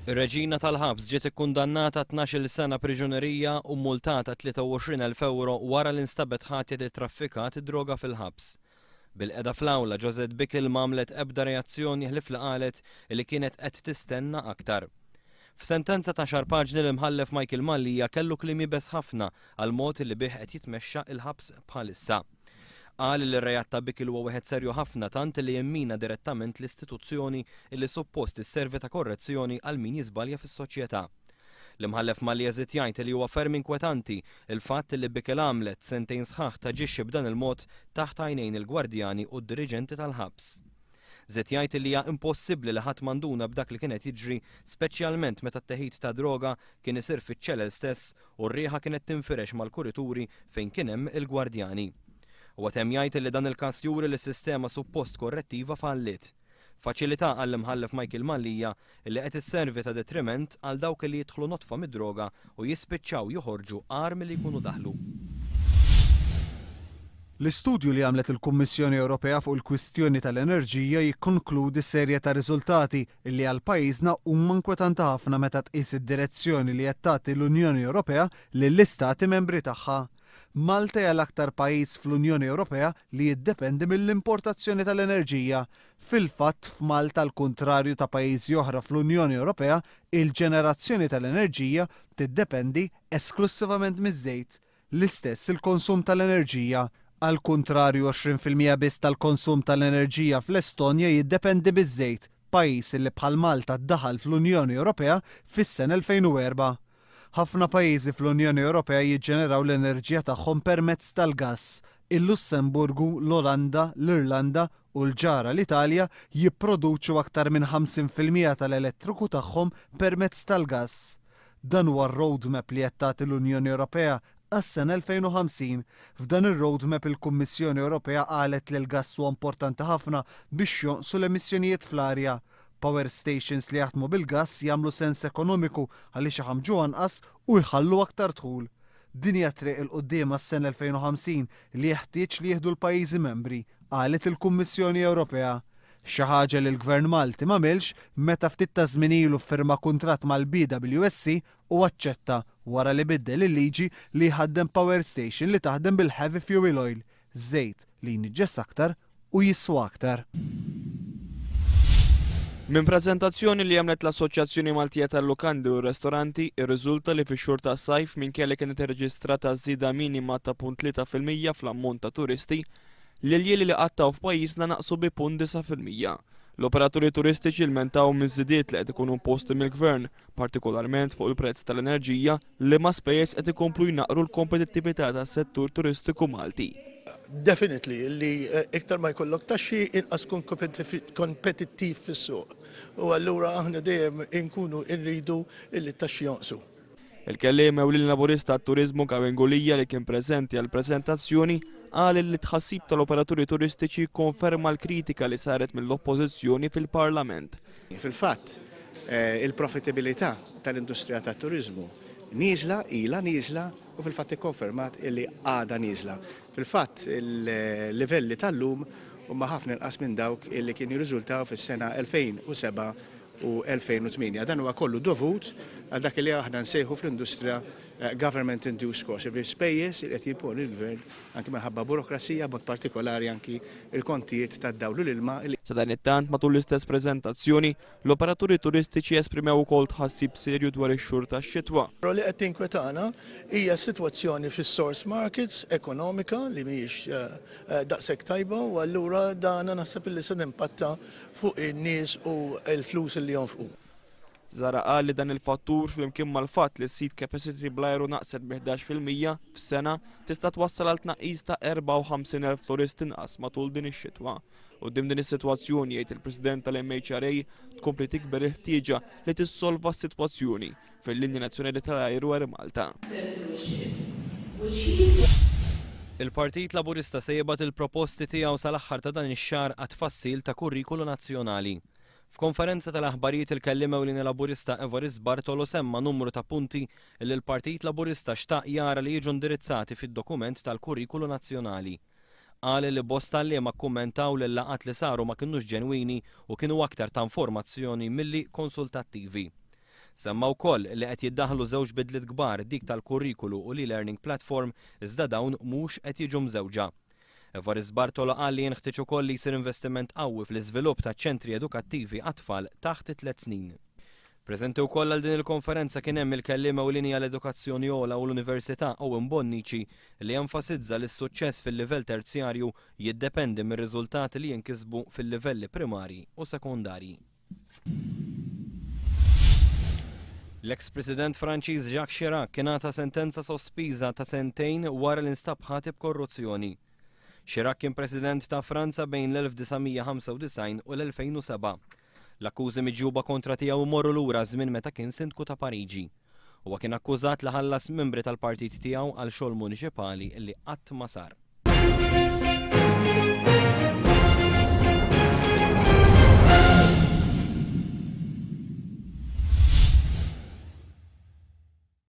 Ir-reġina tal-ħabs ġiet ikkundannata għal tnax-il sena priġunerija u mmultata 23,000 ewro wara li nstabet ħatja li ttraffikat id-droga fil-ħabs. Bil-qegħda fl-awla, Josette Bickel m'għamlet ebda reazzjoni ħlief li qalet li kienet qed tistenna aktar. F'sentenza ta' xahar paġni l-Imħallef Michael Mallia kellu kliem iebes ħafna għall-mod li bih qed jitmexxa il-ħabs bħalissa. Qal li r-reat ta' Bickel huwa wieħed serju ħafna tant li jimmina direttament l-istituzzjoni li suppost isservi ta' korrezzjoni għal min jiżbalja fis-soċjetà. L-Imħallef Malli jeżid jgħid li huwa ferm inkwetanti l-fatt li Bickel għamlet sentejn sħaħ taġixxi b'dan il-mod taħt għajnejn il-gwardjani u d-diriġenti tal-ħabs. Żied jgħid li hija impossibbli li ħadd ma nduna b'dak li kien qed jiġri speċjalment meta t-teħid tad-droga kien isir fiċ-ċelel stess u r-riħa kienet tinfirex mal-kurituri fejn kien hemm il-gwardjani. Huwa temm jgħid li dan il-każ juri li s-sistema suppost korrettiva falliet. Faċilità għall-Imħallef Michael Mallia li qed isservi ta' detriment għal dawk li jidħlu notfa mid-droga u jispiċċaw joħorġu agħar milli jkunu daħlu. L-istudju li għamlet il-Kummissjoni Ewropea fuq il-kwistjoni tal-enerġija jikkonkludi serje ta' riżultati li għal pajjiżna huma nkwetanti ħafna meta tqis id-direzzjoni li qed tagħti l-Unjoni Ewropea lill-Istati Membri tagħha. Malta hija l-aktar pajjiż fl-Unjoni Ewropea li jiddependi mill-importazzjoni tal-enerġija. Fil-fatt, f'Malta l-kuntrarju ta' pajjiżi oħra fl-Unjoni Ewropea, il-ġenerazzjoni tal-enerġija tiddependi esklussivament miż-żejt. L-istess il-konsum tal-enerġija. Għall-kuntrarju 20 fil-mija biss tal-konsum tal-enerġija fl-Estonja jiddependi miż-żejt, pajjiż li bħal Malta daħal fl-Unjoni Ewropea fis-sena 2004. Ħafna pajjiżi fl-Unjoni Ewropea jiġġeneraw l-enerġija tagħhom permezz tal-gass. Il-Lussemburgu, l-Olanda, l-Irlanda, u l-ġara l-Italja jipproduċu aktar minn 50 fil-mija tal-elettriku tagħhom permezz tal-gass. Dan huwa r-roadmap li qed tagħti l-Unjoni Ewropea għas-sena 2050. F'dan ir-roadmap il-Kummissjoni Ewropea qalet li l-gass huwa importanti ħafna biex jonqsu l-emissjonijiet fl-arja. Power stations li jaħdmu bil-gass jagħmlu sens ekonomiku għaliex iħammġu anqas u jħallu aktar dħul. Din hija t-triq 'il quddiem għas-sena 2050 li jeħtieġ li jieħdu l-pajjiżi membri, qalet il-Kummissjoni Ewropea. Xi ħaġa li l-Gvern Malti m'għamilx meta ftit taż-żmien ilu ffirma kuntratt mal-BWSC u aċċetta, wara li biddel il-liġi, li jħaddem power station li taħdem bil-heavy fuel oil, Żejt li jniġġes aktar u jiswa aktar. Minn preżentazzjoni li għamlet l-Assoċjazzjoni Maltija tal-Lukandi u r-Restoranti, irriżulta li fix-xhur tas-sajf minkejja li kienet irreġistrata żieda minima ta' punt tlieta fil-mija fl-ammont ta' turisti, l-iljieli li qattgħu f'pajjiżna naqsu bi punt disa' fil-mija. L-operaturi turistiċi lmentaw miż-żidiet li qed ikunu imposti mill-Gvern, partikolarment fuq il-prezz tal-enerġija, Liema spejjeż qed ikomplu jnaqqru l-kompetittività tas-settur turistiku Malti? Definitely li iktar ma jkollok taxxi inqas tkun kompetittiv fis-suq u allura aħna dejjem inkunu rridu li t-taxxi jonqsu. Il-Kelliem Ewlieni Laburista għat-Turiżmu Gavin Gulia li kien preżenti għall-preżentazzjoni qal li t-tħassib tal-operaturi turistiċi jikkonferma l-kritika li saret mill-Oppożizzjoni fil-Parlament Fil-fatt, il-profitabilità tal-industrija tat-turiżmu nieżla, ilha nieżla u fil-fatt ikkonfermat illi għadha nieżla. Fil-fatt, il-livelli tal-lum huma ħafna inqas minn dawk illi kienu jirriżultaw fis-sena 2007 u 2008. Dan huwa kollu dovut għal dak illi aħna nsejħu fl-industrija government-induced costs, jiġifieri spejjeż li qed jimponi l-gvern anki minħabba burokrazija, b'mod partikolari anki l-kontijiet tad-dawl u l-ilma li. Sadanittant, matul l-istess preżentazzjoni, l-operaturi turistiċi esprimew ukoll tħassib serju dwar ix-xhur tax-xitwa. Però li qed tinkwetana hija s-sitwazzjoni fis-source markets ekonomika li mhijiex daqshekk tajba u allura dan naħseb li se timpatta fuq in-nies u l-flus li jonfqu. Zara qal li dan il-fattur flimkien mal-fatt li s-seat capacity bl-ajru naqset bi 11 fil-mija f'sena tista' twassal għal tnaqqis ta' 54,000 turist inqas matul din ix-xitwa. Quddiem din is-sitwazzjoni, jgħid il-President tal-MHRA, tkompli tikber il-ħtieġa li tissolva s-sitwazzjoni fil-linja nazzjonali tal-ajru Air Malta. Il-Partit Laburista se jibgħat il-proposti tiegħu sal-aħħar ta' dan ix-xahar għat-tfassil ta' kurrikulu nazzjonali. F'konferenza tal-aħbarijiet il-Kelliem Ewlieni Laburista Evarist Bartolo semma numru ta' punti li l-Partit Laburista xtaq jara li jiġu indirizzati fid-dokument tal-Kurrikulu Nazzjonali. Qal li bosta għalliema kkummentaw li l-laqgħat li saru ma kinux ġenwini u kienu aktar ta' informazzjoni milli konsultattivi. Semma wkoll li qed jiddaħħlu żewġ bidliet kbar dik tal-kurrikulu u l-e-learning platform iżda dawn mhux qed jiġu mżewġa. Evarist Bartolo qal li jenħtieġ ukoll li jsir investiment qawwi fl-iżvilupp ta' ċentri edukattivi għat-tfal taħt it-tliet snin. Preżenti wkoll għal din il-konferenza kien hemm il-Kelliem Ewlieni għall-Edukazzjoni Ogħla u l-Università Owen Bonnici li enfasizza li s-suċċess fil-livell terzjarju jiddependi mir-riżultati li jinkisbu fil-livelli primarji u sekondarji. L-eks President Franċiż Jacques Chirac kien għata sentenza sospiża ta' sentejn wara li nstab ħati b'korruzzjoni. Chirac kien President ta' Franza bejn l-1995 u l-2007. L-akkużi miġjuba kontra tiegħu jmorru lura żmien meta kien Sindku ta' Pariġi. Huwa kien akkużat li ħallas membri tal-partit tiegħu għal xogħol muniċipali li qatt ma sar.